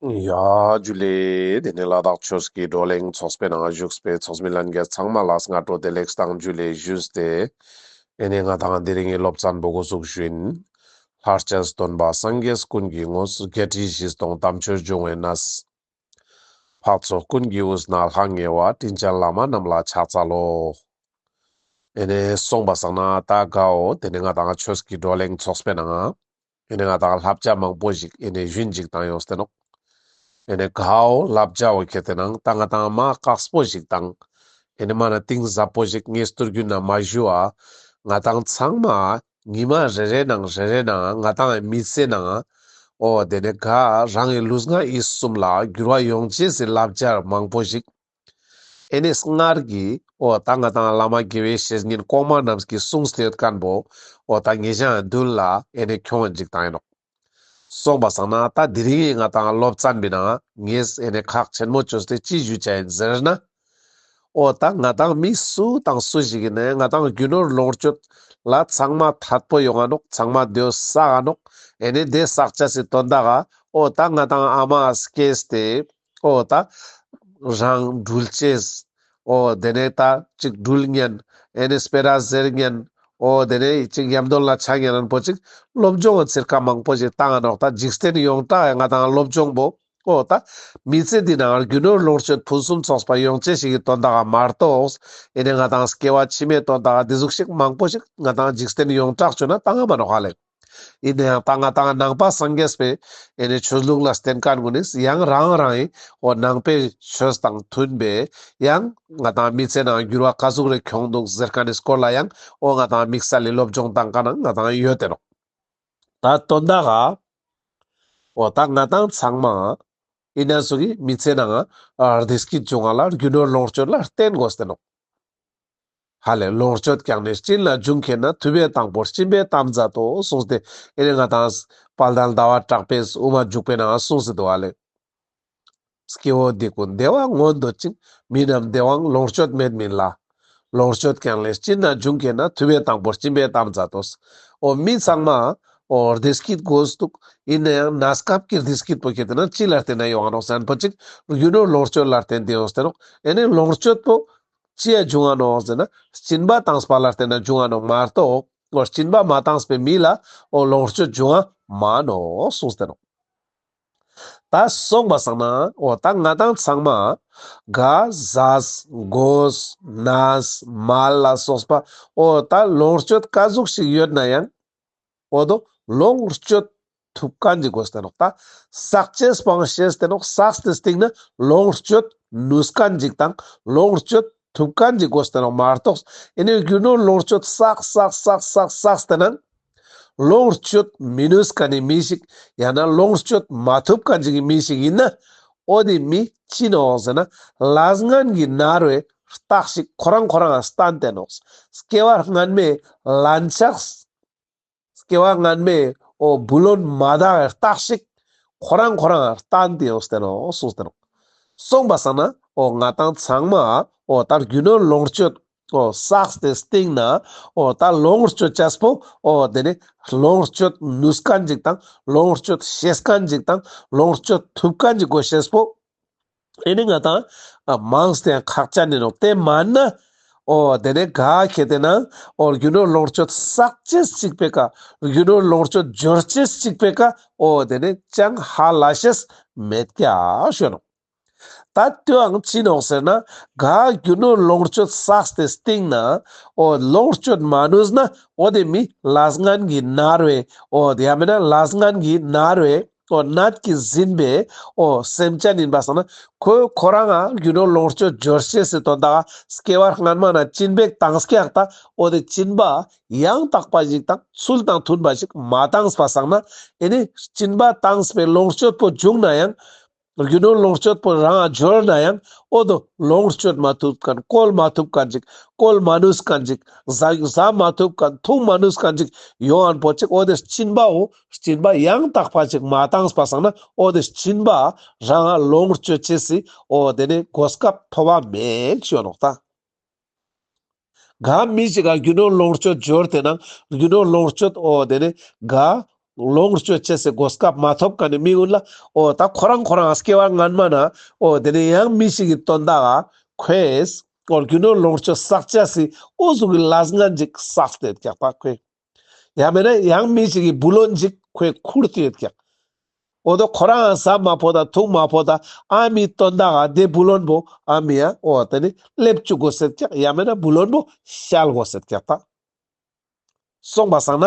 ཡ། རྒྱུ་ལས། དེ་ནས་ལ་དྭགས་ཆོས་ཀྱི་བགྲོ་གླེང་ཚོགས་པའི་ནང་བཞུགས་པའི་ཚོགས་མི་ལྷན་རྒྱས་ཚང་མ་ལ་སྔ་དྲོ་བདེ་ལེགས་བཏང་རྒྱུ་ལས་བཞུད་དེ། དེ་ནས་ང་དང་འདི་རིགས་ངའི་སློབ་ཚན་པོ་གོ་གཟུགས་བཞིན། ལྷར་བཅས་སུ་སྟོན་པ་སངས་རྒྱས་ཀུན་གྱི་དངོས་སུ་བརྒྱད་ཁྲི་བཞི་སྟོང་དམ་ཆོས་འབྱུང་བའི་གནས། འཕགས་ཚོགས་ཀུན་གྱི་དབུས་ན་ལྷ་ངེ་བ་དྲིན་ཅན་བླ་མ་རྣམས་ལ་ཕྱག་འཚལ་ལོ། དེ་ནས་གསུངས་པ་བསགས་ན་ད་གའོ་དེ་ནས་ང་དང་ཆོས་ཀྱི་བགྲོ་གླེང་ཚོགས་པའི་ནང། ཨེ་ནས་ང་དང་ལྷ་བྱ་མང་པོ་ཞིག་ཨེ་ནས་བཞུན་ཅིག་བཏང་ཡོང་སྟེ་ནོག། ཨེ་ནས་གའོ་ལྷ་བྱ་བོ་ཁྱེད་དེ་ནང་ལྟ་ང་དང་མ་བཀག་སྤོ་ཞིག་བཏང། ཨེ་ནས་མ་ན་ཏིང་ཟབ་པོ་ཞིག་ངས་སྟུར་རྒྱུ་ན་མ་བཞུ་ཨ། ང་དང་ཚང་མ་ཉི་མ་རེ་རེ་ནང་རེ་རེ་ནང་ང་དང་ཨེ་མི་ཚེ་ནང་ཨ། ཨོ་དེ་ནས་ག་རང་གི་ལུས་ངག་ཡིད་གསུམ་ལ་འགྱུར་བ་ཡོང་བྱས་ཟིན་ལྷ་བྱར་མང་པོ་ཞིག་ཨེ་ནས་སྔར་གྱི། ཨོ་ད་ང་དང་བླ་མ་དགེ་བའི་བཤེས་གཉེན་ལྐོག་མ་རྣམས་ཀྱི་གསུང་ཟློས་བཀན་པོ། ཨོ་ད་ངེད་གཞན་བདུན་ལ་ཨེ་ནས་ཁྱོད་འཇིག་དང་ཡིན་ནོ། གསུངས་པ་བསམ་ན་ད་དི་རིང་ང་དང་སློབ་བཙའ་མི་ན་ངེས་ཨེ་ནས་ཁག་ཆེན་མོ་ཆོས་དེ་ཅི་ཞུ་བྱ་ཡིན་ཟེར་ན། ཨོ་ད་ང་དང་མི་སུ་དང་སུ་ཞིག་གིས་ནས་ང་དང་རྒྱུ་ནོར་ལོངས་སྤྱོད་ལ་ཚང་མ་ཐར་པོ་ཡོང་ཨ་ནོག་ཚང་མ་སྡོད་བསགས་ཨ་ནོག་ཨེ་ནས་བསྡད་བསགས་བྱ་སི་དོན་དག་ཨ། ཨོ་ད་ང་དང་ཨ་མ་སྐྱེས་ཏེ། ཨོ་ད། རང་འགྲུལ་བཅས། ཨོ་དེ་ནས་ད་ཅིག་འགྲུལ་བརྙན། ཨེ་ནས་སྤེ་ར་གཟེར་བརྙན། ཨོ་དེ་ནས་ཅིག་ཡམ་དོན་ལ་ཆ་བརྙན་རན་པོ་ཅིག་སློབ་སྦྱོང་བ་ཚིར་ཁ་མང་པོ་ཞིག་བཏང་ནོག་ད་འཇིག་རྟེན་ཡོངས་གྲགས་ཡང་ང་དང་སློབ་སྦྱོང་པོ། ཨོ་ད། མི་ཚེ་འདི་ནང་རྒྱུ་ནོར་ལོངས་སྤྱོད་ཕུན་སུམ་ཚོགས་པ་ཡོང་ཆེད་ཞིག་གི་དོན་དག་མ་རྟོགས། ཨེ་ནས་ང་དང་སྐྱེ་བ་ཕྱི་མའི་དོན་དག་འདི་ཟུག་ཤིག་མང་པོ་ཞིག་ང་དང་འཇིག་རྟེན་ཡོངས་གྲགས་བྱུང་ན་ད་ང་མ་ནོག་ཧ་ལེགས། ཡིན་ནའང་ད་སྔ་དང་ནང་པ་སངས་རྒྱས་པའི་ཡེ་ནས་ཆོས་ལུགས་ལ་བརྟེན་དཀའ་དགོས་ནས་ཡང་རང་རང་ཡི་བོ་ནང་པའི་ཆོས་དང་མཐུན་པས་ཡང་ང་དང་མི་ཚེ་ནང་འགྱུར་བ་དཀའ་གཟུགས་རེ་གྱོང་འདུག་ཟེར་དཀའ་ནས་སྐོར་ལ་ཡང་འོ་ང་དང་དམིགས་བསལ་ལས་སློབ་སྦྱོང་དང་དཀའ་ན་ང་དང་ཡོད་དེ་རོགས་ད་དོན་དག་ག་འོ་ད་ང་དང་ཚང་མ་ཡི་ན་སུ་གི་མི་ཚེ་ནང་རྡིས་ཀི་འབྱུང་བ་ལ་རྒྱུ་ནོར་ལོངས་སྤྱོད་ལ་བརྟེན་དགོས་དེ་རོགས། ཧ་ལས་ལོངས་སྤྱོད་བསྐྱངས་ནས་སྤྱིན་ལ་འཇུག་མཁས་ན་དུས་པའི་དང་པོར་སྤྱིན་པའི་གཏམ་མཛད་དོ་གསུངས་ཏེ་ཨེ་རེ་ང་དང། དཔལ་ལྡན་ཟླ་བ་གྲགས་པས་དབུ་མ་འཇུག་པས་ན་གསུངས་སྲིད་དོ་ཨ་ལས། སྐྱེ་བོ་སྡིག་པོ་འདས་བ་མངོན་འདོད་ཅིང་མི་རྣམས་འདས་བའང་ལོངས་སྤྱོད་མེད་མིན་ལ། ལོངས་སྤྱོད་བསྐྱངས་ལས་སྤྱིན་ལ་འཇུག་མཁས་ན་དུས་པའི་དང་པོར་སྤྱིན་པའི་གཏམ་མཛད་དོ། འོ་མི་ཚང་མ། འོ་རྡེ་སྐྱིད་དགོས་སུ་འདུག་ཡིན་ན་ཡང་ན་སྐབས་ཀྱི་རྡེ་སྐྱིད་པོ་ཁྱེད་དེ་ན་ཅི་ལ་བརྟེན་ན་ཡོང་རོགས་བཙན་པོ་གཅིག་རྒྱུ་ནོར་ལོངས་སྤྱོད་ལ་བརྟེན་དེ་ཡོང་ཟེར་རོགས་ཨེ་ནས་ལོངས་སྤྱོད་པོ་ཅེས་འབྱུང་བ་ནོ་ཟེར་ན་སྐྱིན་པ་དྭངས་པ་ལ་བརྟེན་ན་འབྱུང་བ་ནོ་མ་གཏོགས་སྐྱིན་པ་མ་དྭངས་པའི་མི་ལ་ལོངས་སྤྱོད་འབྱུང་བ་མ་ནོ་གསུངས་ཟེར་རོ། ད་གསུངས་པ་ཟང་ན་ད་ང་དང་ཚང་མ་ག་ཟ་གོ་ཟ་ན་ཟ་མ་ལ་སོགས་པ་ད་ལོངས་སྤྱོད་དཀའ་གཟུགས་ཤིག་ཡོད་ན་ཡང། པོ་དང་ལོངས་སྤྱོད་ཐུབ་དཀའ་འཇིག་གོ་སྟེ་ནོག་ལྟ། ཟག་བཅས་སྤང་བྱས་སྟེ་ནོག་ཟག་སྟེ་སྟེང་ནི་ལོངས་སྤྱོད་ནུས་དཀའ་འཇིག་དང་ལོངས་སྤྱོད་ཐུབ་དཀའ་འཇིག་གོ་སྟེ་ནོག་མ་གཏོགས་ཨེ་ནོས་རྒྱུ་ནོར་ལོངས་སྤྱོད་ཟག་ཟག་ཟག་ཟག་ཟག་སྟེ་ནང་ལོངས་སྤྱོད་མི་ནུས་དཀའ་ནི་མི་ཞིག་ཡང་ན་ལོངས་སྤྱོད་མ་ཐུབ་དཀའ་འཇིག་གི་མི་ཞིག་ཡིན་ན་ཨོ་དེ་མི་ཅི་ནོག་ཟེར་ན་ལ་སྔན་གྱི་ནར་བའི་རྟགས་ཤིག་ཁོ་རང་ཁོ་རང་ལ་སྟན་ཏེ་ནོག་སྐྱེ་བ་སྔན་མའི་ལན་ཆགས་སྐྱེ་བ་སྔ་མའི་འོ་བུ་ལོན་མ་དག་བའི་རྟགས་ཤིག་ཁོ་རང་ཁོ་རང་ལྟ་འདི་འོ་སྟེར་འོ་སུ་སྟེར་སོང་པ་བསམ་ན་འོ་ང་དང་ཚང་མ་འོ་ད་རྒྱུ་ནོར་ལོངས་སྤྱོད་འོ་བསགས་ཏེ་སྟེང་ན་འོ་ད་ལོངས་སྤྱོད་བྱ་སྤོ་འོ་དེ་ནས་ལོངས་སྤྱོད་ནུས་ཀ་འཇིག་དང་ལོངས་སྤྱོད་ཤེས་ཀ་འཇིག་དང་ལོངས་སྤྱོད་ཐུབ་ཀ་འཇིག་གོ་ཤེས་སྤོ། ཨེ་ནི་ང་དང། མང་སྟེང་ཁག་ཅར་ནི་རོགས་དེ་མ་ནི། ཨོ། དེ་ནས་ག་གེ་དེ་ན། ཨོ་རྒྱུ་ནོར་ལོངས་སྤྱོད་བསགས་བྱེད་གཅིག་པའི་ཀ། རྒྱུ་ནོར་ལོངས་སྤྱོད་སྦྱོར་བྱེད་གཅིག་པའི་ཀ། ཨོ། དེ་ནས་ཅང་ཧ་ལ་ཤེས་མེད་ཀྱ་ཞོན་ནོ། ད་ལྟོའང་ཅི་ནོག་ཟེར་ན། ག་རྒྱུ་ནོར་ལོངས་སྤྱོད་བསགས་དེ་སྟེང་ན། ཨོ། ལོངས་སྤྱོད་མ་ནུས་ན། ཨོ་དེ་མི་ལ་སྔན་གྱི་ནར་བས། ཨོ། ཡ་མེད་ན་ལ་སྔན་གྱི་ནར་བས། ཁོ་ནད་ཀྱིས་ཟིན་པས་ཨོ་སེམས་ཅན་ཡིན་པར་བསམས་ན་ཁོས་ཁོ་རང་ཨ་རྒྱུ་ནོར་ལོངས་སྤྱོད་རྒྱུར་སྐྱེ་སྲིད་དོ་བདག་སྐྱེ་བར་སྔར་མ་ན་སྐྱིན་པའི་གཏང་སྐྱེ་ཨག་ད་ཨོ་དེ་སྐྱིན་པ་ཡང་དག་པ་ཞིག་དང་ཚུལ་དང་མཐུན་པ་ཞིག་མ་བཏང་པར་བསམས་ན་ཨེ་ནས་སྐྱིན་པ་བཏང་པས་ལོངས་སྤྱོད་པོ་བྱུང་ན་ཡང་རྒྱུ་ནོར་ལོངས་སྤྱོད་པོ་རང་ཨ་གྱུར་ན་ཡང་ཨོ་དོ་ལོངས་སྤྱོད་མ་ཐུབ་གན་བཀོལ་མ་ཐུབ་ག་འཇིག་བཀོལ་མ་ནུས་ག་འཇིག་བཟའ་མ་ཐུབ་ག་འཐུང་མ་ནུས་ག་འཇིག་ཡོང་ཨན་པོ་ཅིག་ཨོ་དེ་སྐྱིན་པའོ་བྱིན་པ་ཡང་དག་པ་ཅིག་མ་བཏང་བ་སང་ན་ཨོ་དེ་བྱིན་པ་རང་ལོངས་སྤྱོད་བྱེད་སྲིད་ཨོ་དེ་ནས་གོ་སྐབས་མཐོ་བ་མེད་ཅོ་ནོག་ད་ག་མི་ཅིག་ག་རྒྱུ་ནོར་ལོངས་སྤྱོད་སྦྱོར་དེ་ན་རྒྱུ་ནོར་ལོངས་སྤྱོད་ཨོ་དེ་ནས་ག་ལོངས་སྤྱོད་བྱེད་སྲིད་གོ་སྐབས་མ་ཐོབ་ག་ནས་མི་ཡོད་ལ་ཨོ་ད་ཁོ་རང་ཁོ་རང་སྐྱེ་བ་སྔན་མ་ན་ཨོ་དེ་ནས་ཡང་མི་ཞིག་གི་དོན་དག་ཁོས་ཨོ་རྒྱུ་ནོར་ལོངས་སྤྱོད་བསགས་བྱ་སྲིད་ཨོ་གཟུགས་ཀྱི་ལ་སྔན་ཅིག་བསགས་ཏེ་བརྒྱག་པ་ཁོས། ཡང་མེད་ན་ཡང་མི་ཞིག་གིས་བུ་ལོ་འཇིག་ཁོའི་ཁུར་དུ་ཡོད་ཀྱང། འོ་ད་ཁོ་རང་ཟ་མ་ཕོ་དང་འཐུང་མ་ཕོ་དང་ཨ་མི་སྟོན་ད་ག་དེ་བུ་ལོན་པོ་ཨ་མི་ཡ་འོ་ད་ནི་སླེབས་བཅུག་གོ་ཟེར་ཀྱང་ཡང་མེད་ན་བུ་ལོན་པོ་ཤལ་གོ་ཟེར་ཀྱང་ཐག་སོང་པ་བཟང་ན་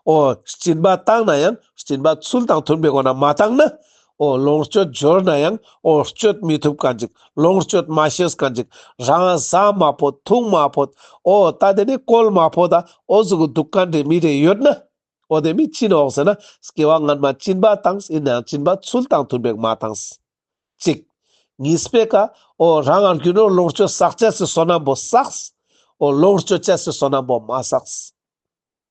འོ་སྤྱིན་པ་བཏང་ན་ཡང་སྤྱིན་པ་ཚུལ་དང་མཐུན་པའི་སྒོ་ན་མ་བཏང་ན་ཨོ་ལོངས་སྤྱོད་འབྱོར་ན་ཡང་ཨོ་སྤྱོད་མི་ཐུབ་ག་འཇིག་ལོངས་སྤྱོད་མ་ཤེས་ག་འཇིག་རང་བཟའ་མ་ཕོད་ཐུག་མ་ཕོད་ཨོ་ད་དེ་ནས་བཀོལ་མ་ཕོད་ད་ཨོ་གཟུགས་གི་སྡུག་ག་འདྲེ་མི་འདྲེ་ཡོད་ན་ཨོ་དེ་མི་བྱིན་ཨོག་ཟེར་ན་སྐྱེ་བ་སྔ་མ་བྱིན་པ་དང་ཡིན་ན་ཡང་བྱིན་པ་ཚུལ་དང་མཐུན་པའི་མ་དང། གཅིག། གཉིས་པས་ཀ་ཨོ་རང་ངར་གྱུར་ན་ཨོ་ལོངས་སྤྱོད་བསགས་བྱས་སུ་བསོད་ནམས་པོ་བསགས། ཨོ་ལོངས་སྤྱོད་བྱས་སུ་བསོད་ནམས་པོ་མ་བསགས།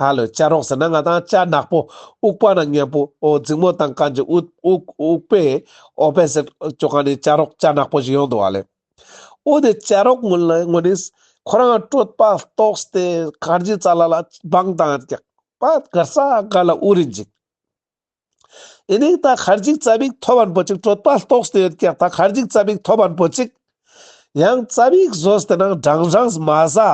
ཧ་ལོ་བཅའ་རོགས་ཟེར་ན་ང་དང་བཅའ་ནག་པོ་དབུགས་པ་ན་མཉམ་པོ་ཨོ་རྫིག་མོ་དང་གངས་ཀྱི་དབུགས་དབུགས་པས་ཨོ་བེ་ཟེར་ཁྱོ་ག་ནས་བཅའ་རོགས་བཅའ་ནག་པོ་ཞིག་ཡོང་འདུག་བ་ལེ། འོ་དེ་བཅའ་རོགས་ངོ་ལེ་ངོ་ནི་ཁོ་རང་སྤྲོད་པ་ཏོག་སྟེ་གངས་ཀྱི་རྩ་ལ་ལ་སྦང་དང་རྒྱག་པ་དགར་ས་དགར་ལ་དབུགས་རིང་འཇིག། ཨིན་ཡིག་ད་གར་འཇིག་རྩ་བིག་ཐོ་བར་འབོད་ཅིག་སྤྲོད་པ་ལྟོགས་སྟེ་ཡོད་ཀྱང་ད་གར་འཇིག་རྩ་བིག་ཐོ་བར་འབོད་ཅིག། ཡང་རྩ་བིག་བཟོས་དེ་ནང་སྦྲང་སྦྲང་མ་བཟའ།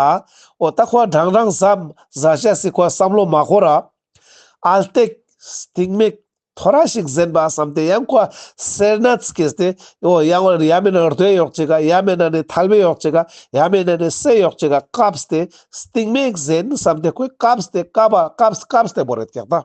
འོ་ད་ཁོ་སྦྲང་སྦྲང་བཟའ། བཟའ་བྱ་སྲིད་ཁོ་བསམ་བློ་མ་ཁོ་ར། ཨ་སྟེགས། སྟེགས་མིག། ཐོ་ར་ཞིག་གཟན་པ་བསམ་སྟེ་ཡང་ཁོ་སེར་སྣ་བསྐྱེད་དེ། འོ་ཡང་བར་ཡ་མེད་ན་རྡོས་ཡོག་ཅིག་ག་ཡ་མེད་ན་ནི་ཐལ་བས་ཡོག་ཅིག་ག་ཡ་མེད་ན་ནི་བསྲེས་ཡོག་ཅིག་ག་སྐབས་སྟེ་སྟེགས་མིག་གཟན་བསམ་སྟེ་ཁོས་སྐབས་སྟེ་སྐབས་ཨ་སྐབས་སྐབས་སྟེ་བོ་རེད་ཀྱང་ད།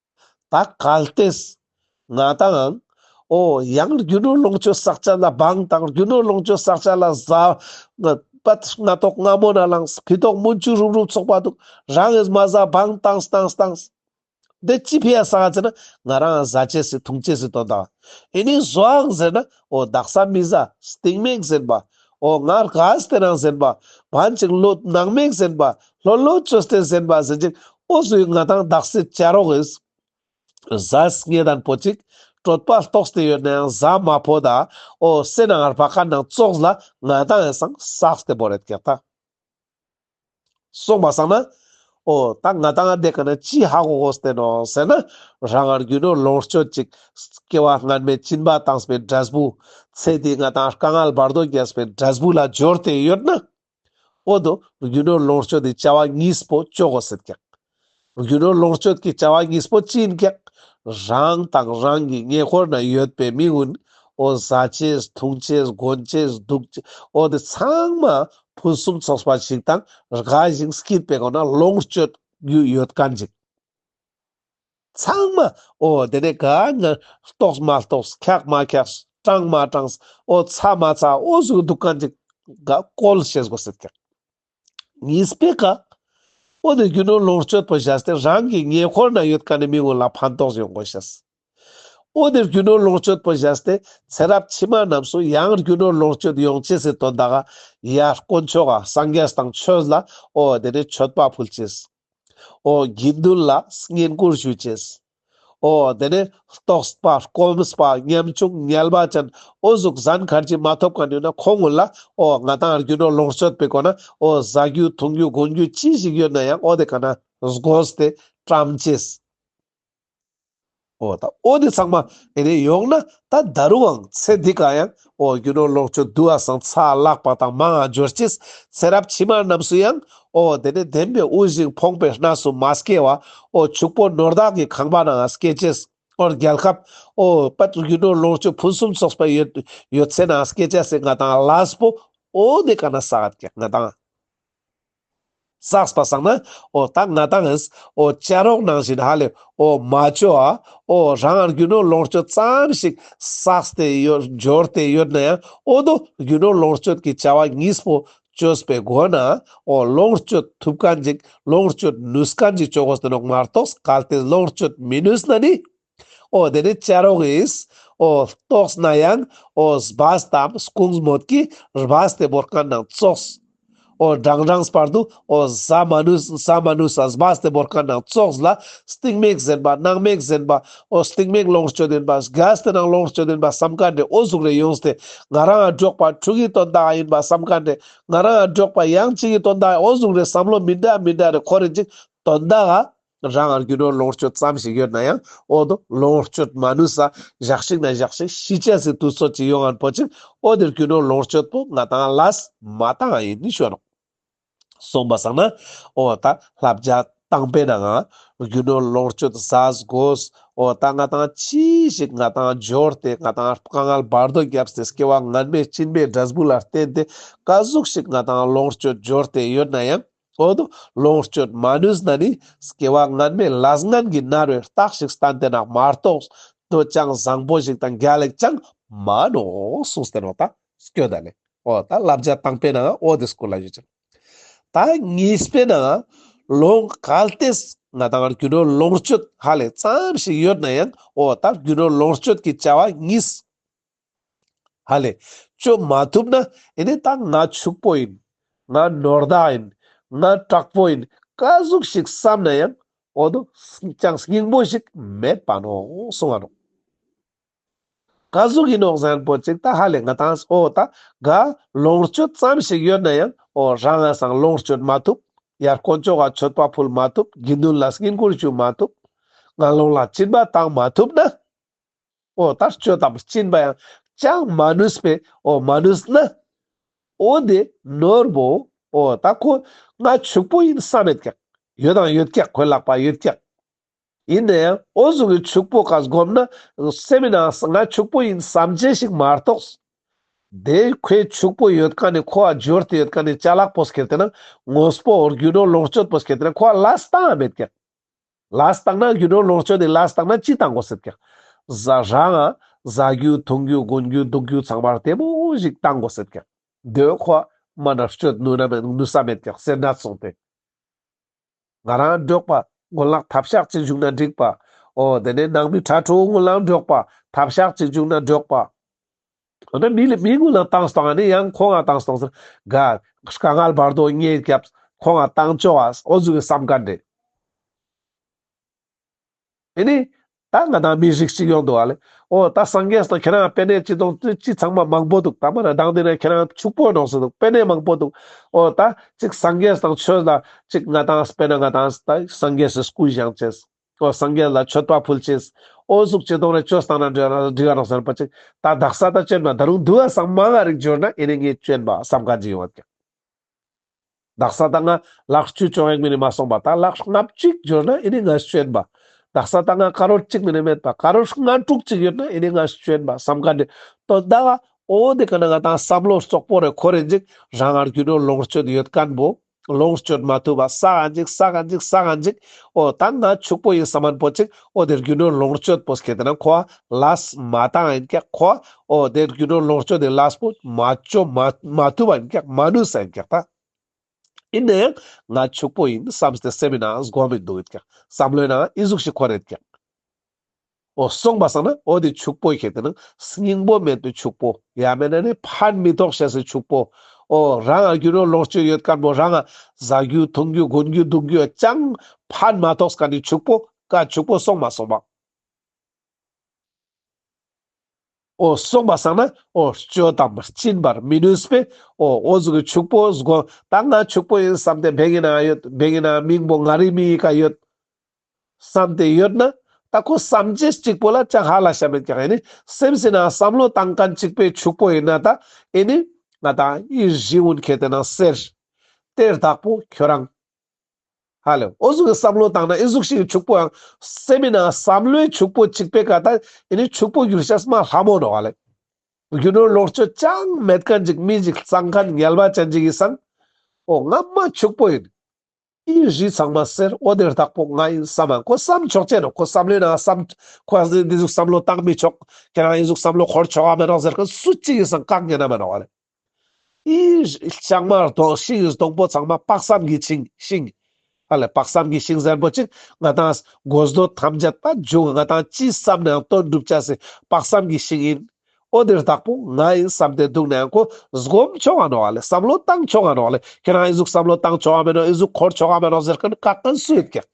ད་གལ་ཏེ་ང་དང། ཨོ་ཡང་རྒྱུ་ནོར་ལོངས་སྤྱོད་བསགས་བྱ་ན་འབངས་དང་རྒྱུ་ནོར་ལོངས་སྤྱོད་བསགས་བྱ་ལ་བཟའ། པདྨ་སྔ་ཐོག་སྔ་མོ་ན་ལངས་བུ་ཐོག་མུན་ཆུ་རུབ་རུབ་ཚོགས་པ་འདུག་རང་ཨེ་མ་བཟའ་འབངས་དང་སྟང་སྟང། འདི་ཅི་ཕེ་ཡ་བཟའ་ཟེར་ན་ང་རང་བཟའ་བྱས་སི་ཐུང་བྱས་སི་དོ་ད། ཨེ་ནི་བཟོའང་ཟེར་ན་ཨོ་བདག་ས་མི་ཟ་སྟེང་མེད་ཟེར་པ། ཨོ་ང་ར་ག་སྟེ་རང་ཟེར་པ། བན་ཅིག་ལོ་ནག་མེད་ཟེར་པ། ལྷོ་ལོ་ཅོ་སྟེ་ཟེར་པ་ཟེར་ཅིག་ཨོ་སུའི་ང་དང་བདག་སི་བཅའ་རོགས་ཨིས། བཟའས་ངེད་དང་བོ་ཅིག་དྲོད་པ་ལྟོགས་སྟེ་ཡོད་ནའང་བཟའ་མ་ཕོ་ད། ཨོ་སེ་ན་ངར་བ་ཁ་ནང་ཙོགས་ལ་ང་དང་ཨེ་སང་བསགས་སྟེ་བོ་རེད་ཀྱེ་ད། སོགས་མ་བསགས་ན། ཨོ་ད་ང་དང་འདས་ག་ན་ཅི་ཧ་གོ་གོ་བསྟན་ནོ་ཟེར་ན། རང་ངར་རྒྱུ་ནོར་ལོངས་སྤྱོད་ཅིག། སྐྱེ་བ་སྔར་མེད་སྤྱིན་པ་དྭངས་པའི་སྒྲ་སྦུ། ཚེ་འདིའི་ང་དང་དཀའ་ངལ་བར་དོ་རྒྱལ་བའི་སྒྲ་སྦུ་ལ་སྦྱོར་ཏེ་ཡོད་ན། ཨོ་དོ་རྒྱུ་ནོར་ལོངས་སྤྱོད་འདི་བྱ་བ་གཉིས་པོ་སྤྱོད་གོ་ཟེར་ཀྱང། རྒྱུ་ནོར་ལོངས་སྤྱོད་ཀྱི་བྱ་བ་གཉིས་པོ་ཅི་ཡིན་ཀྱང་རང་དང་རང་གི་ཉེ་འཁོར་ན་ཡོད་པའི་མི་དབུལ་བོ་བཟའ་བཅས་འཐུང་བཅས་གོན་བཅས་སྡུག་བཅས་བོ་དེ་ཚང་མ་ཕུན་སུམ་ཚོགས་པ་ཞིག་དང་རྒ་ཞིང་སྐྱིད་པའི་སྒོ་ན་ལོངས་སྤྱོད་རྒྱུ་ཡོད་ག་འཇིག་ཚང་མ་བོ་དེ་ནས་ག་ནས་རྟོགས་མ་རྟོགས་འཁྱགས་མ་འཁྱགས་སྐྲངས་མ་སྐྲངས་བོ་ཚ་མ་ཚ་བོ་ཞིག་འདུག་ག་འཇིག་ག་བཀོལ་བྱེད་དགོས་སྲིད་ཀྱང། ངའི་སྤེལ་ཀ། ཨོ་ནི་རྒྱུ་ནོར་ལོངས་སྤྱོད་པོ་བཞག་སྟེ་རང་གི་ཉེ་འཁོར་ན་ཡོད་ཀ་ནི་མི་ངོ་ལ་ཕན་ཐོགས་ཡོང་དགོས་ཤེས། ཨོ་ནི་རྒྱུ་ནོར་ལོངས་སྤྱོད་པོ་བཞག་སྟེ་ཚེ་རབས་ཕྱི་མ་རྣམས་སུ་ཡང་རྒྱུ་ནོར་ལོངས་སྤྱོད་ཡོང་ཆེ་སྲིད་དོ་ད་ག་ཡ་དཀོན་མཆོག་ག་སངས་རྒྱས་དང་ཆོས་ལ་ཨོ་དེ་ནས་མཆོད་པ་ཕུལ་ཅེས། ཨོ་དགེ་འདུན་ལ་བསྙེན་བཀུར་ཞུས་ཅེས། ཨོ་དེ་ནས་རྟོགས་པ་སྐོམ་པ་ཉམ་ཆུང་ཉལ་བ་ཅན་ཨོ་གཟུགས་བཟང་གར་གྱིས་མ་ཐོབ་གང་ནུས་ན་ཁོ་ངོ་ལ་ཨོ་ང་དང་རྒྱུ་ནོར་ལོངས་སྤྱོད་པའི་སྒོ་ན་ཨོ་བཟའ་རྒྱུ་འཐུང་རྒྱུ་སྒོང་རྒྱུ་ཅི་ཞིག་ཡོད་ན་ཡང་ཨོ་དེ་ག་ན་བཟོས་ཏེ་བཀྲམ་ཅེས་ཨོ་ད་ཨོ་ནི་ཚང་མ་དེ་ནས་ཡོང་ན་ད་ད་རུའང་ཚེ་འདི་ག་ཡང་ཨོ་རྒྱུ་ནོར་ལོངས་སྤྱོད་བསྡུ་བ་སང་ཚགས་བཀླགས་པ་དང་མང་འགྱུར་གྱིས་ཚེ་རབས་ཕྱི་མ་རྣམས་སུ་ཡང་ཨོ་དེ་ནས་བདེན་པའི་དབུལ་ཞིང་ཕོངས་པའི་སྣ་སུ་མ་སྐྱེ་བ་ཨོ་ཕྱུག་པོ་ནོར་བདག་གི་ཁང་པ་ནའང་སྐྱེ་བྱེད་ཨོ་རྒྱལ་ཁབ་ཨོ་དཔལ་རྒྱུ་ནོར་ལོངས་སྤྱོད་ཕུན་སུམ་ཚོགས་པའི་ཡོད་ཡོད་ཚད་ནའང་སྐྱེ་བྱ་སེ་ང་དང་བླ་སྤོ་ཨོ་ནི་ཀ་ན་ས་ཀ་ང་དང། བསགས་པ་བསགས་ན་འོ་ད་ང་དང་ཨིས་འོ་བཅའ་རོགས་གནང་བཞིན་ཧ་ལས་འོ་མ་བཅོ་ཨ་འོ་རང་རྒྱུ་ནོར་ལོངས་སྤྱོད་ཙམ་ཞིག་བསགས་ཏེ་ཡོད་འབྱོར་དེ་ཡོད་ན་ཡང་འོ་དོ་རྒྱུ་ནོར་ལོངས་སྤྱོད་ཀྱི་བྱ་བ་གཉིས་པོ་བཅོས་པའི་སྒོ་ན་འོ་ལོངས་སྤྱོད་ཐུབ་ཀ་འཇིག་ལོངས་སྤྱོད་ནུས་ཀ་འཇིག་ཅོག་གོ་ཟིན་རོགས་མ་རྟོགས་གལ་ཏེ་ལོངས་སྤྱོད་མི་ནུས་ན་ནི། འོ་དེ་ནི་ཅལ་རོགས་ཨིས། འོ་ཏོགས་ན་ཡང། འོ་སྦས་དམ་སྐུངས་མོད་ཀྱི། རྦས་དེ་བོར་དཀར་ནང་བཙོགས། འོ་སྦྲང་སྦྲང་སྤར་དུ། འོ་ཟ་མ་ནུས་ཟ་མ་ནུས་ས་སྦས་དེ་བོར་དཀར་ནང་བཙོགས། ལ་སྟིག་མེག་གཟན་པ་སྣང་མེག་གཟན་པ། འོ་སྟིག་མེག་ལོངས་སྤྱོད་ལྡན་པ། སྒལས་དེ་ནང་ལོངས་སྤྱོད་ལྡན་པ་བསམ་ཀ་འདྲེ་འོ་གཟུགས་རེ་ཡོངས་དེ། ང་རང་ཨ་འགྲོགས་པ་ཕྲུ་གུའི་དོན་དག་ཡིན་པ་བསམ་ཀ་འདྲེ། ང་རང་ཨ་འགྲོགས་པ་གཡང་སྐྱིད་ཀྱི་དོན་དག་འོ་གཟུགས་རེ་བསམ་བློ་མི་འདྲ་མི་འདྲ་རེ་ཁོ་རེ་གཅིག་དོན་དག་ཨ་རང་དབར་རྒྱུ་ནོར་ལོངས་སྤྱོད་ཙམ་ཞིག་ཡོད་ན་ཡང་འོག་ཏུ་ལོངས་སྤྱོད་མ་ནུས་ས་བཞག་ཤིག་ན་བཞག་ཤིག་ཤི་ཆད་ཟིག་དུས་ཚོད་ཅིག་ཡོང་ང་འཕོ་ཅིག་འོག་འདིར་རྒྱུ་ནོར་ལོངས་སྤྱོད་དུ་ང་དང་ལཱས་མ་དང་ཡིན་ནི་ཤོད་རོགས། གསུངས་པ་བསམ་ན་འོ་ད་ལྷ་བརྒྱ་བཏང་པས་ན་ང་རྒྱུ་ནོར་ལོངས་སྤྱོད་ཟ་དགོས་འོ་ད་ང་དང་ཅི་ཞིག་ང་དང་སྦྱོར་ཏེ་ང་དང་དཀའ་ངལ་བར་དོ་བརྒྱབ་སའི་སྐྱེ་བ་ངན་པའི་སྤྱིན་པའི་སྒྲ་གཟུགས་ལ་བརྟེན་ཏེ་དཀའ་གཟུགས་ཤིག་ང་དང་ལོངས་སྤྱོད་སྦྱོར་ཏེ་ཡོད་ན་ཡང། ཁོང་དུ་ལོངས་སྤྱོད་མ་ནུས་ན་ནི་སྐྱེ་བ་སྔོན་མའི་ལ་སྔོན་གྱི་མནར་བའི་རྟགས་ཤིག་བསྟན་ཏེ་ན་མ་གཏོགས་སྤྲོ་བཅངས་བཟང་པོ་ཞིག་དང་རྒྱ་ལེགས་ཅང་མ་ནོ་གསུངས་སྟེ་ནོ་ད་སྐྱོན་ད་ལེ་ཨོ་ད་བསླབ་བྱ་དང་པས་ནའང་ཨོ་དེ་སྐུ་ལ་ཡོད་ཅིང་ད་ངེས་པས་ནའང་ལོངས་གལ་ཏེས་ང་དང་རྒྱུ་ནོར་ལོངས་སྤྱོད་ཧ་ལས་ཙམ་ཞིག་ཡོད་ན་ཡང་ཨོ་ད་རྒྱུ་ནོར་ལོངས་སྤྱོད་ཀྱི་བྱ་བ་གཉིས། ཧ་ལས། བཅོས་མ་ཐུབ་ན་ཨེ་ནས་ད་ང་ཕྱུག་པོ་ཡིན། ང་ནོར་བདག་ཡིན། ང་དྲག་པོ་ཡིན་བཀའ་ཟུག་ཞིག་བསམ་ན་ཡང་འོ་ན་ཅང་སྙིང་པོ་ཞིག་མེད་པ་ནོ་གསུང་བ་ནོ། བཀའ་ཟུག་ཡིན་ནོ་གཟན་པོ་ཅིག་ད་ཧ་ལས་ང་དང་ཨོ་ད་ག་ལོངས་སྤྱོད་ཙམ་ཞིག་ཡོད་ན་ཡང་འོ་རང་ང་སང་ལོངས་སྤྱོད་མ་ཐུབ་ཡར་དཀོན་ཅོག་ག་མཆོད་པ་ཕུལ་མ་ཐུབ་དགེ་འདུན་ལ་སྙིང་བཀུར་ཞུ་མ་ཐུབ་ང་ལོངས་ལ་སྤྱིན་པ་བཏང་མ་ཐུབ་ན། འོ་ལྟར་སྤྱོད་དམ་བཅིངས་པ་ཡང་ཅང་མ་ནུས་པས་འོ་མ་ནུས་ན། འོ་འདི་ནོར་བུའོ་ད་ཁོ་ང་ཕྱུག་པོ་ཡིན་བསམ་མེད་ཀྱང་ཡོད་དང་ཡོད་ཀྱང་གོས་ལག་པ་ཡོད་ཀྱང། ཡིན་ན་ཡང་འོ་གཟུགས་ཀྱི་ཕྱུག་པོ་ག་བསྒོམས་ན་སེམས་ནང་ང་ཕྱུག་པོ་ཡིན་བསམ་བྱེད་ཞིག་མ་གཏོགས། དེ་ཁོས་ཕྱུག་པོ་ཡོད་ག་ནས་ཁོ་བ་འབྱོར་དེ་ཡོད་ག་ནས་ཅལ་ལག་པོ་ཟེར་དེ་ན་ངོས་པོ་འོར་རྒྱུ་ནོར་ལོངས་སྤྱོད་པོ་ཟེར་དེ་ན་ཁོ་བ་ལ་སྟངས་མེད་ཀྱང། ལ་བརྟགས་ན་རྒྱུ་ནོར་ལོངས་སྤྱོད་དེ་ལ་བརྟགས་ན་ཅི་ལྟ་འགོ་སྲིད་ཀྱང། བཟའ་བཟའ་རྒྱུ་འཐུང་རྒྱུ་སྒོན་རྒྱུ་འདུག་རྒྱུ་ཚང་མར་དེ་མོ་ཞིག་བཏང་དགོ་སྲིད་ཀྱང། འདོད་ཁོ་མ་རྣམས་སྤྱོད་ནུས་ན་མེད་ནུས་ས་མེད་ཀྱང་སེར་སྣ་བཙོང་སྟེ། ང་རང་འབྲོག་པ་དགུན་ལག་ཐབས་ཤག་ཅིག་བཞུགས་ན་འགྲིག་པ་འོ་དེ་ནས་ནང་མི་གྲྭ་དྲུག་དགུན་ལག་འབྲོག་པ་ཐབས་ཤག་ཅིག་བཞུགས་ན་འགྲོགས་པ། འོ་ན་མི་ལ་མི་ངུ་ལ་བཏང་སྟངས་ཨ་ནི་ཡང་ཁོང་ང་བཏང་སྟངས་སུ་དགའ། དཀའ་ངལ་བར་དོ་ངས་སྐྱབས་ཁོང་ང་བཏང་ཆོག་ཨ་ཨོ་རྫུན་གྱི་བསམ་དཀའ་འདྲེ། ཨེ་ནི། ད་ང་དང་མི་རིགས་གཅིག་ཡོང་འདུག་ཨ་ལེ། ཨོ་ད་སངས་རྒྱས་སུ་དང་ཁྱེད་རང་དཔེ་གནས་གཅིག་དང་བཅུ་གཅིག་ཚང་མ་མང་པོ་འདུག་ད་མ་ར་དང་འདི་ན་ཁྱེད་རང་ཕྱུག་པོ་ནང་སུ་འདུག་དཔེ་གནས་མང་པོ་འདུག་ཨོ་ད་གཅིག་སངས་རྒྱས་སུ་དང་ཆོས་ལ་གཅིག་ང་དང་སྤེན་ན་ང་དང་ད་སངས་རྒྱས་སུ་སྐུ་བཞེངས་བྱེད། ཁོ་སངས་རྒྱས་ལ་མཆོད་པ་ཕུལ་ཕྱིན། ཨོ་གཟུགས་ཅི་སྟོང་རེ་བཅོལ་གསང་ན་འདྲི། རང་སྡུག་བསྔལ་བ་ཅིག་ད་བདག་ས་ད་སྤྱོད་ན་ད་རུང་སྡུག་བསམ་མ་ང་རིག་འབྱོར་ན་ཨེ་ནི་ངས་སྤྱོད་པ་བསམ་ག་ཇི་ཡོང་བ་ཀྱང། བདག་ས་ད་ང་ལག་བཅུ་བཅོ་ལྔས་མི་ནི་མ་སོང་པ་ད་ལག་ལྔ་བཅུས་འབྱོར་ན་ཨེ་ནི་ང་སྤྱོད་པ། བདག་ས་ད་ང་དཀར་འོད་གཅིག་མི་ནི་མེད་པ་དཀར་འོད་ལྔ་དྲུག་ཅིག་ཡོད་ན་ཨེ་ནི་ང་སྤྱོད་པ་བསམ་ག་འདྲི། དོན་བདག་ཨོ་འོ་འདི་ག་ན་ང་དང་བསམ་བློ་ཙོག་པོ་རེ་ཁོ་རེ་འཇིག་རང་ངར་རྒྱུ་ནོར་ལོངས་སྤྱོད་ཡོད་སྐམ་པོ། ལོངས་སྤྱོད་མ་ཐུབ་པ་ས་ག་འཇིག་ས་ག་འཇིག་ས་ག་འཇིག། ཨོ་ད་ང་ཕྱུག་པོ་ཡིན་ས་མ་འཕོ་ཅིག་ཨོ་དེ་རྒྱུ་ནོར་ལོངས་སྤྱོད་པོ་སྐྱེ་དེ་ན་ཁོ་ལ་ས་མ་དང་ཡིན་ཀྱ་ཁོ་ཨོ་དེ་རྒྱུ་ནོར་ལོངས་སྤྱོད་དེ་ལ་ས་པོ་མ་སྤྱོ་མ་མ་ཐུབ་པ་ཡིན་ཀྱ་མ་ནུས་ས་ཡིན་ཀྱ་ད་ཡིན་ན་ཡང་ང་ཕྱུག་པོ་ཡིན་བསམ་སྟེ་སེམས་ཡིན་ན་སྒོམ་མི་འདུག་ཡིན་ཀྱ་བསམ་བློ་ཡིན་ན་ཨི་གཟུགས་ཤིག་ཁོ་རེད་ཀྱ། འོ་གསུངས་པ་སང་ན་འོ་དེ་ཕྱུག་པོ་ཞེས་དེ་ནི་སྙིང་པོ་མེད་དུ་ཕྱུག་པོ་ཡ་མེད་ན་ནི་ཕར་མི་ཐོགས་ཞེས་སུ་ཕྱུག་པོ་འོ་རང་ང་རྒྱུ་ནོར་ལོངས་སྤྱོད་ཡོད་དཀར་མོ་རང་ང་བཟའ་རྒྱུ་འཐུང་རྒྱུ་གོན་རྒྱུ་འདུག་རྒྱུ་ཅང་ཕར་མ་ཐོགས་ཀ་ནི་ཕྱུག་པོ་ཀ་ཕྱུག་པོ་གསུངས་མ་སོང་བ། འོ་གསུངས་པ་སང་ན་འོ་སྤྱོད་དམ་བཅིན་པར་མི་ནུས་པས་འོ་འོ་གཟུགས་ཀྱི་ཕྱུག་པོ་གཟུགས་ད་ང་ཕྱུག་པོ་ཡིན་བསམ་སྟེ་བན་གྱི་ནང་ཡོད་བན་གྱི་ནང་མིང་པོ་ང་རིག་མིང་ཡི་ག་ཡོད། བསམ་དེ་ཡོད་ན་ད་ཁོ་བསམ་རྗེས་གཅིག་པོ་ལ་ཅང་ཧ་ལ་ཞབས་མེད་ཀྱང་ཨེ་ནི་སེམས་སྲིད་ན་བསམ་བློ་བཏང་མཁན་གཅིག་པའི་ཕྱུག་པོ་ཡིན་ན་ད་ཨེ་ནི་ང་དང་ཨི་ཞི་ཝུན་ཁེ་དེ་ན་ཟེར། གཏེར་བདག་པོ་ཁྱོད་རང། ཧ་ལས་ཨོ་གཟུགས་ཀྱི་བསམ་བློ་བཏང་ན་ཨི་གཟུགས་ཤིག་གི་ཕྱུག་པོ་ཡང་སེམས་མེད་ན་བསམ་བློའི་ཕྱུག་པོ་གཅིག་པའི་ཀ་ད་ཨེ་ནི་ཕྱུག་པོ་གྱུར་ཤ་སྨ་ལྷ་མོ་འགྲོ་བ་ལས། རྒྱུ་ནོར་ལོག་སྤྱོད་ཅང་མེད་མཁན་གཅིག་མི་ཞིག་གཙང་མཁན་ངལ་བ་ཅན་གཅིག་ཡིན་སང་ཨོ་ང་སྨྲ་ཕྱུག་པོ་ཡིན། ཨི་བཞི་ཚང་མ་སེར་ཨོ་དེར་བདག་པོ་ང་ཡིན་བསམ་མ་ཁོ་བསམ་ཆོག་ཅེས་ནོ་ཁོ་བསམ་ལེ་ན་བསམ་ཁོ་ཨ་ཟེར་འདི་ཟུག་བསམ་བློ་བཏང་མི་ཆོག་ཁྱེད་རང་ཨི་ཟུག་བསམ་བློ་འཁོར་ཆོག་ཨ་མི་རོག་ཟེར་མཁན་སུ་གཅིག་ཡིན་བསམ་བཀག་ཉན་ཨ་མི་རོག་རེད། ཨི་བཞི་ལྕང་མར་དོ་ཤིང་བཞི་དོང་པོ་ཚང་མ་དཔག་བསམ་གྱི་ཆིང་ཤིང། ཨ་ལེ་དཔག་བསམ་གྱི་ཤིང་བཟང་པོ་གཅིག་ང་དང་སྒོ་སྡོད་ཐམས་ཅད་ད་འཇུག་ང་དང་ཅི་བསམ་ནའང་དོན་འགྲུབ་བྱ་སའི་དཔག་བསམ་གྱི་ཤིང་ཡིན། ཨོ་འདིར་བདག་པོ་ང་ཡིན་བསམ་སྟེ་འདུག་ནའང་ཁོ་སྒོམ་ཆོག་གང་རུང་བ་ལས་བསམ་བློ་བཏང་ཆོག་གང་རུང་བ་ལས་ཁྱེད་རང་ཨེ་གཟུགས་བསམ་བློ་བཏང་ཆོག་གང་མེད་རུང་ཨེ་གཟུགས་འཁོར་ཆོག་གང་མེད་རུང་ཟེར་མཁན་བཀག་མཁན་སུ་ཡོད་ཀྱི།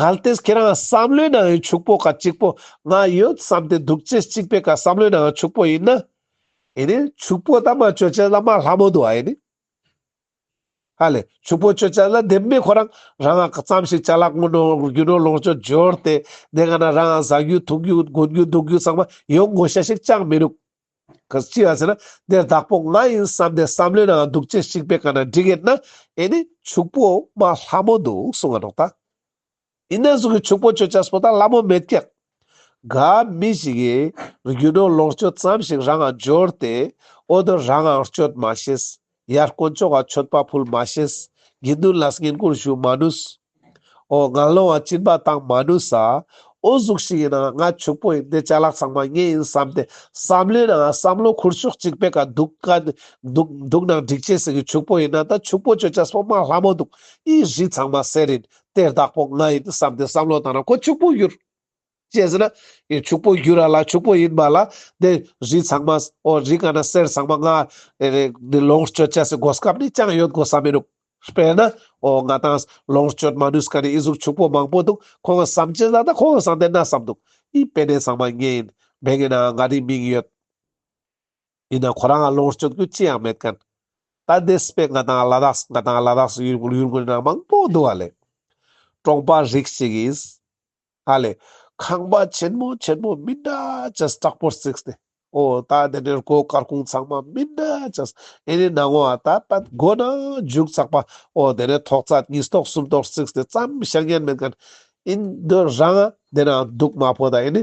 གལ་ཏེ་ཁྱེད་རང་བསམ་བློའི་ནང་ཡང་ཕྱུག་པོ་ག་གཅིག་པོ་ང་ཡོད་བསམ་སྟེ་འདུག་ཅེས་གཅིག་པའི་ག་བསམ་བློའི་ནང་ཕྱུག་པོ་ཡིན་ན། ཨེ་ནི། ཕྱུག་པོ་དང་མ་བཅོས་ཅན་ལ་མ་ལྷ་མོ་འདུག་ཨ་ཨེ་ནི། ཨ་ལས་ཕྱུག་པོ་ཁྱོད་ཅག་ལ་དེབ་སྨད་ཁོ་རང་རང་ངག་ཙམ་ཞིག་བྱ་ལ་སྔོན་འགྲོ་རྒྱུ་འགྲོ་ལོངས་སྤྱོད་འབྱོར་ཏེ་གནས་ངག་ན་རང་ཟ་རྒྱུ་འཐུང་རྒྱུ་དགོན་རྒྱུ་འདུག་རྒྱུ་ཚང་མ་ཡོང་དགོས་ཤ་ཞིག་ཅང་མི་རུག་གས་ཅི་ཡང་ཟེར་ན་འདིར་བདག་པོ་ང་ཡིན་བསམ་སྟེ་བསམ་བློའི་ནང་འདུག་ཅི་ཞིག་པའི་ག་ན་འགྲིག་ཡེད་ན་ཨེ་ནི་ཕྱུག་པོ་མ་ལྷ་མོ་འདུག་གསུང་ང་འགྲོགས་ད། ཡིན་ནའང་གཟུགས་ཀྱི་ཕྱུག་པོ་ཁྱོད་ཅག་སོ་དང་སླ་མོ་མེད་ཀྱང། ག་མི་ཞིག་གིས་རྒྱུ་ནོར་ལོངས་སྤྱོད་ཙམ་ཞིག་རང་འང་འབྱོར་ཏེ། འོ་དོད་རང་འང་སྤྱོད་མ་ཤེས། ཡར་དཀོན་མཆོག་ག་མཆོད་པ་ཕུལ་མ་ཤེས། དགེ་འདུན་ལ་བསྙེན་བཀུར་ཞུ་མ་ནུས། འོ་ང་སློང་བ་སྤྱིན་པ་བཏང་མ་ནུས། འོ་གཟུགས་ཤིག་ཡིན་ནའང་ང་ཕྱུག་པོ་ཡིན་ཏེ་བྱ་གླག་ཚང་མ་ངའི་ཡིན་བསམ་ཏེ་བསམ་ལེ་ནའང་བསམ་བློ་འཁུར་ཕྱོགས་གཅིག་པས་ག་འདུག་ག་འདུག་འདུག་ནའང་འགྲིག་བྱེད་ཟིག་གི་ཕྱུག་པོ་ཡིན་ན་ད་ཕྱུག་པོ་ཁྱོད་ཅག་སོ་མ་སླ་མོ་འདུག་ཨི་ཧྲི་ཚང་མ་ཟེར་ཡིན་དེར་བདག་པོ་ང་ཡིན་དུ་བསམ་སྟེ་བསམ་བློ་བཏང་ན་ཁོ་ཕྱུག་པོ་འགྱུར། ཅེས་ཟེར་ན། ཡང་ཕྱུག་པོ་འགྱུར་ར་ལ་ཕྱུག་པོ་ཡིན་པ་ལ་དེ་རི་ཚང་མ། འོ་རི་ག་ན་གསེར་ཚང་མ་ལྔ། འདི་ལོངས་སྤྱོད་བྱས་ཟིན་གོ་སྐབས་ནི་ཅང་ཡོད་དགོས་ས་མིན་འདུག་དཔེར་ན། འོ་ང་དང། ལོངས་སྤྱོད་མ་ནུས་ཀ་ནས་ཨི་གཟུགས་ཕྱུག་པོ་མང་པོ་འདུག་ཁོང་གི་བསམ་སྤྱི་ལ་ད་ཁོང་གི་བསམ་སྟེ་ན་བསམ་འདུག་ཨི་དཔེ་ནས་ཚང་མ་ངེད་ཡིན། མེད་ངེད་ན་འང་ང་རི་མིང་ཡོད། ཡིན་ན་ཁོ་རང་ལ་ལོངས་སྤྱོད་རྒྱུ་ཅི་ཡང་མེད་ཀན། ད་ལྡེ་སི་པེ་ང་དང་ལ་དྭགས་སུ་ང་དང་ལ་དྭགས་སུ་ཡུལ་དགོན་ཡུལ་དགོན་ནང་མང་པོ་འདུ་བ་ལས། གྲོང་པ་རིགས་གཅིག་ཡིན། ཧ་ལས། ཁང་པ་ཆེན་མོ་ཆེན་མོ་མི་འདྲ་ཅན་སྐྲག་པོར་བརྩིགས་ཏེ། ཨོ། ད་དེ་ནས་སྒོ་དཀར་ཁུང་ཚང་མ་མི་འདྲ་ཅན། ཨེ་ནི་ནང་ངོ། ད་ད་སྒོ་ནང་རྒྱུག་ཚགས་པ། ཨོ། དེ་ནས་ཐོག་རྩ་གཉིས་ཐོག་གསུམ་ཐོག་བརྩིགས་ཏེ་བརྩམས་བཤད་ངན་མེད་ཀན། ཨིན། འདི་རང། དེ་ནང་སྡུག་དམར་པོ་དང་ཨེ་ནི།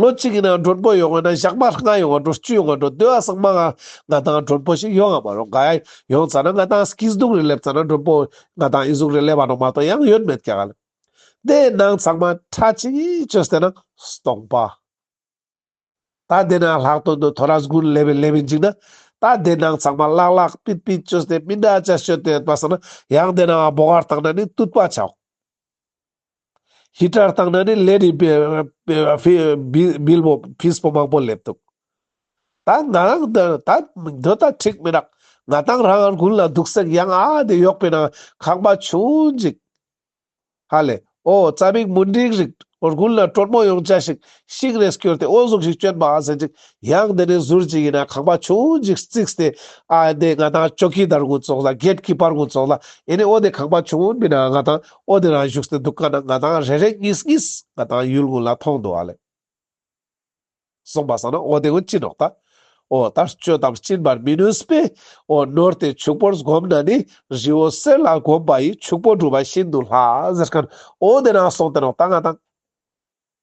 ལོ་གཅིག་གི་ནང་གྲོགས་པོ་ཡོང་བ་ན་ཞག་པ་ལྔ་ཡོང་བ་འགྲོ་བཅུ་ཡོང་བ་འགྲོ་བདུན་ཨ་སང་མ་ང་ང་དང་གྲོགས་པོ་ཞིག་ཡོང་ཨ་མ་རོགས་ག་ཡ་ཡོང་ཙ་ན་ང་དང་སྐྱིད་སྡུག་རེ་སླེབས་ཙ་ན་གྲོགས་པོ་ང་དང་ཨི་གཟུགས་རེ་སླེབས་ཨ་རོགས་མ་གཏོགས་ཡང་ཡོད་མེད་ག་ག་ལ་དེ་ནང་ཚང་མ་ཁྲ་ཆིལ་གཅོད་བསད་ན་སྟོང་པ། ད་དེ་ནང་ལྷག་དོན་དུ་ཐོ་ར་སྒུར་སླེབས་བའི་སླེབས་བའི་འཇིག་ན་ད་དེ་ནང་ཚང་མ་བརླག་བརླག་པིད་པིད་གཅོད་བསད་སྤིན་དྲ་བཅའ་བཤོད་དེ་པ་ས་ན་ཡང་དེ་ནང་ཨ་བོ་གར་བཏང་ན་ནི་བཏུད་པ་ཆགས། ཧི་ཀྲར་བཏང་ན་ནི་ལས་རིགས་པའི་བིལ་བོ་བིས་པོ་མང་པོ་སླེབས་འདུག་ད་ང་རང་འདི་འདི་ལྟ་འཁྲིག་མི་རག་ང་བཏང་རང་དགུན་ལ་སྡུག་སེགས་ཡང་ཨ་དེ་ཡོག་པའི་ནང་ཁང་པ་ཆུང་འཇིག་ཧ་ལས་ཨོ་རྩ་མིག་མུན་འགྲིག་རིག་དགུན་ལ་དྲོད་མོ་ཡོང་བྱ་ཞིག་ཤིག་རེས་བསྐྱོར་ཏེ་དབོན་གཟུགས་ཤིག་བསྐྱོན་པ་ཟེར་ཅིག་ཡང་དེ་ནི་ཟུར་གཅིག་ཡིན་ན་ཁང་པ་ཆུང་གཅིག་བརྩིགས་ཏེ། ཨ་དེ་ང་དང་ཅོ་ཀི་དར་གུ་ཙོག་ལ་རྒྱལ་ཀི་པར་གུ་ཙོག་ལ་ཡིན་ནི་ཨོ་དེ་ཁང་པ་ཆུང་མིན་ན་ང་དང་ཨོ་དེ་རང་བཞུགས་ཏེ་འདུག་ག་ན་ང་དང་རེ་རེ་གཉིས་གཉིས་ང་དང་ཡུལ་ངོ་ལ་མཐོང་འདུག་ཨ་ལས། གསུངས་པ་བསམ་ན་ཨོ་དེ་ངོ་ཅི་ནོག་ད། ཨོ་ད་སྤྱོད་དམ་སྤྱིན་པར་མི་ནུས་པས་ཨོ་ནོར་དེ་ཕྱུག་པོར་བསྒོམ་ན་ནི་རི་བོ་གསེར་ལ་བསྒོམ་པ་ཡིས་ཕྱུག་པོ་བསྒྲུབས་པ་བཞིན་དུ་ལྷ་ཟེར་ག་ན་ཨོ་དེ་རང་སོང་སྟེ་ནོག་ད་ང་དང།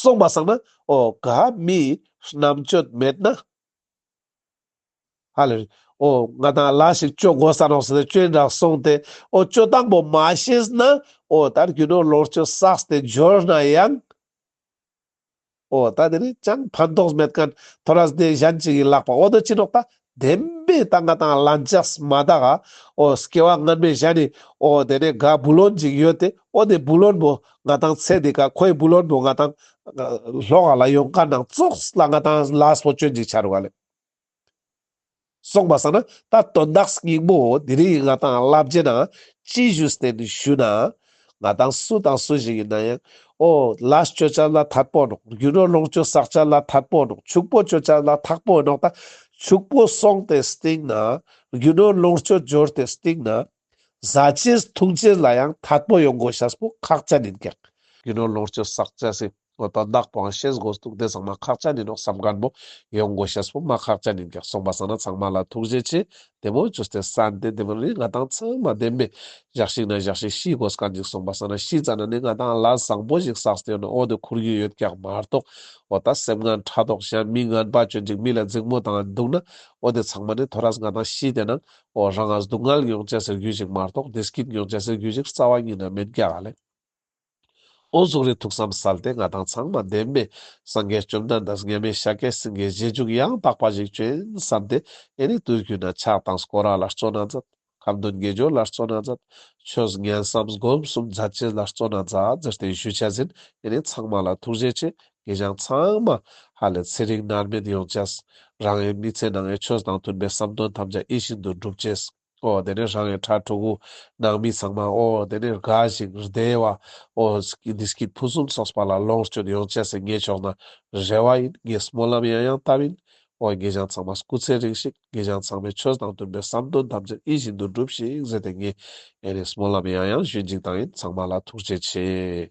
སོགས་པ་བསགས་ན་ཨོ་ག་མི་རྣམ་དཔྱོད་མེད་ན། ཧ་ལས། ཨོ་ང་དང་ལ་ཞིག་སྤྱོད་གོ་ས་ནོག་སེ་སྤྱོད་འདྲ་གསུངས་ཏེ་ཨོ་སྤྱོད་དང་པོ་མ་ཤེས་ན་ཨོ་ད་རྒྱུ་ནོར་ལོག་སྤྱོད་བསགས་ཏེ་འབྱོར་ན་ཡང། ཨོ་ད་དེ་ནས་ཅང་ཕན་ཐོགས་མེད་ཀན་ཐོ་ར་སྡེ་གཞན་གཅིག་གིས་བཀླགས་པ་ཨོ་ད་ཅི་ནོག་ད་བདེན་པའི་རྟ་རྒ་དང་བླ་འཇགས་མ་དག། ཨོ་སྐྱེ་བ་སྔ་མའི་ཞག་ནི། ཨོ་དེ་ནས་ག་བུ་ལོན་ཅིག་ཡོད་དེ། ཨོ་དེ་བུ་ལོན་པོ་ང་དང་ཚེ་འདི་ག་ཁོའི་བུ་ལོན་པོ་ང་དང། ལྷོ་ག་ལ་ཡོང་དཀའ་ནང་ཙོགས་ལ་ང་དང་ལགས་པོ་སྤྱོད་འཇིགས་ཆར་བ་ལས། སོང་པ་ས་ན་ད་དོན་དག་སྙིང་པོ་འོ་དེ་རིང་ང་དང་བླ་བརྒྱད་ན། ཅི་ཞུས་བསྟན་དུ་ཞུས་ན། ང་དང་སུ་དང་སུ་ཞིག་ཡིན་ན་ཡང། ཨོ། ལཱ་སྤྱོད་བྱ་ལ་ཐར་པོ་ནོག། རྒྱུ་ནོར་ལོངས་སྤྱོད་བསགས་བྱ་ལ་ཐར་པོ་ནོག། ཕྱུག་པོ་སྤྱོད་བྱ་ལ་ཐག་པོ་ནོག་དང། ཕྱུག་པོ་སོང་སྟེ་སྟེང་ན། རྒྱུ་ནོར་ལོངས་སྤྱོད་འབྱོར་ཏེ་སྟེང་ན། བཟའ་བྱའི་འཐུང་བྱེད་ལ་ཡང་ཐར་པོ་ཡོང་དགོས་ཤཱས་པོ་ཁག་ཅན་ཡིན་ཀྱང། རྒྱུ་ནོར་ལོངས་སྤྱོད་བསགས་བྱ་སྲིད། ངོ་ཏོག་བདག་པོའང་ཤེས་དགོས་འདུག་དེ་ཚང་མ་ཁག་ཅག་ནི་ནོག་བསམ་སྒར་མོ་ཡོང་དགོས་ཤེས་བུ་མ་ཁག་ཅག་ནི་འགེགས་སོང་པ་བཟང་ན་ཚང་མ་ལ་ཐུགས་རྗེ་ཆེ་དེ་མོ་ཇུས་ཏེ་ས་འདི་འདི་མོ་ནི་ང་དང་ཚང་མ་བདེན་པས་བཞག་ཤིག་ན་བཞག་ཤིག་ཤི་དགོས་ཀ་འཇིགས་སོང་པ་བཟང་ན་ཤི་ཙ་ན་ནི་ང་དང་ལ་བཟང་པོ་ཞིག་བསགས་སྟེ་ཡོད་ན་ཨོ་དེ་འཁུར་རྒྱུ་ཡོད་ཀྱང་མ་གཏོགས་ཨོ་ད་སེམས་ངན་ཕྲ་དོག་གཞན་མི་ངན་པ་གྱོད་འཇིགས་མི་ལ་རྫིག་མོ་དང་འདུག་ན་ཨོ་དེ་ཚང་མ་ནི་དོ་རྭས་ང་དང་ཤི་དེ་ན་ཨོ་རང་ངར་སྡུག་བསྔལ་མྱོང་བྱས་ཟེར་རྒྱུ་ཞིག་མ་གཏོགས་དེ་སྐྱིད་མྱོང་བྱས་ཟེར་རྒྱུ་ཞིག་རྩ་བ་ཉིད་ན་མེད་ཀྱ་ལེ། ཨོ་གཟུགས་རིགས་ཐུགས་བསམ་སལ་ཏེ་མངའ་ཐང་ཚང་མ་ལྡན་པའི། སངས་རྒྱས་བཅོམ་ལྡན་འདས་ངེས་མེད་ཤཱཀྱའི་སེང་གེའི་རྗེས་འཇུག་ཡང་དག་པ་ཞིག་བྱོན་བསམ་སྟེ། ཨེ་ནི་དུས་ཀུན་ན་ཆགས་སྡང་སྐོ་ར་ལ་བརྩོ་ན་མཛད། ཁམས་དོན་དགེ་སྦྱོར་ལ་བརྩོ་ན་མཛད། ཆོས་ངན་བསམ་སྒོམ་གསུམ་མཛའ་བརྩེ་ལ་བརྩོ་ན་མཛའ་བརྩེར་བརྟན་བཞུགས་བྱས་ཟིན་ཨེ་ནི་ཚང་མ་ལ་ཐུགས་རྗེ་ཆེ་དགེ་སྦྱངས་ཚང་མ་ཧ་ལས་ཚེ་རིང་མནར་མེད་ཡོང་བྱས། རང་ཡི་མི་ཚེ་ནང་ཨེ་ཆོས་དང་མཐུན་པའི་བསམ་དོན་ཐམས་ཅད་ཨེ་བཞིན་དུ་འགྲུབ་བྱས། ཨོ་དེ་ནས་རང་ཡང་ཁྲ་ཁྲོ་བོ། ནང་མི་ཚང་མ་ཨོ་དེ་ནས་དགའ་ཞིང་བདེ་བ། ཨོ། འདི་སྐད་ཕུན་སུམ་ཚོགས་པ་ལ་ལོངས་སྤྱོད་ཡོང་ཆས་སེ་ངས་ཆོག་ན་རེ་བ་ཡིན་ངས་སྨོན་ལམ་ཡང་ཡང་བཏབ་ཡིན། ཨོ་དགེ་རྒྱང་ཚང་མ་སྐུ་ཚེ་རིང་ཞིག་དགེ་རྒྱང་ཚང་མས་ཆོས་དང་བསྟུན་པའི་བསམ་དོན་ཐམས་ཅད་ཨི་བཞིན་དུ་འགྲུབ་ཤིག་ཟེར་ཏེ་ངས་ཨེ་ནས་སྨོན་ལམ་ཡང་ཡང་ཞུས་འཇིག་དང་ཡིན་ཚང་མ་ལ་ཐུགས་རྗེ་ཆེ།